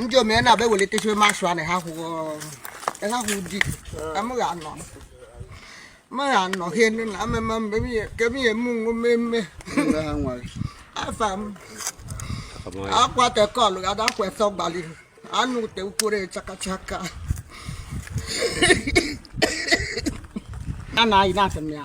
ndị omee na-abịa ewelitechiwe masụ anị ha kwụghị ha kwụ di amụghị anọ mụghị anọ ha enu na amema mgbe kemihe m nwe mmemme Afam akwa tekọlụ gada akwa efe gbalị anụ ute ukwuru chakachaka a na-ayị na-atụ m ya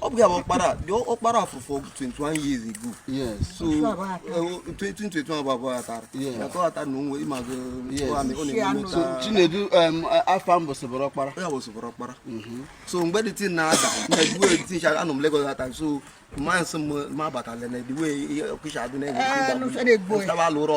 ọ bụ ya bụ ọkpara the ọkpara furu efu 21 years ago yes so 2021 eh, bụ abụọ atara na ka ọta na onwe ịmazụ ọ na-eme so Chinedu Afam bịazi bụrụ ọkpara ya bịazi bụrụ ọkpara mhm. so mgbe the thing na-ada na egwu eti ncha anọ m Lagos that time so mama sị m ma abatala na ediwe ọkụcha adị na-egwu eh, alụ ụrọ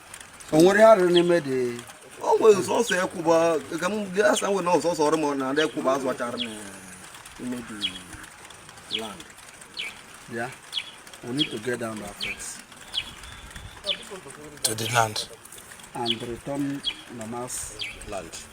o nwere arụ n'ime the o nwere sọsọ ekwuba ka m gị asa nwere na ọsọsọ ọrụ m na ndị ekwuba azụ achara m ime the land yeah we need to get down that fence to the land and return mama's land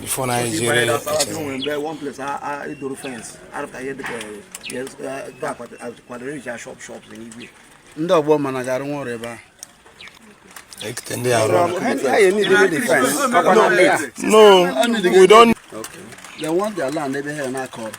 before na anyị jere ndị ọgbọ mana ga-arụ nwa ọrụ ebe ahụ ekete ndị arụ no we don't okay. they want their land ebe ha na-akọ ọrụ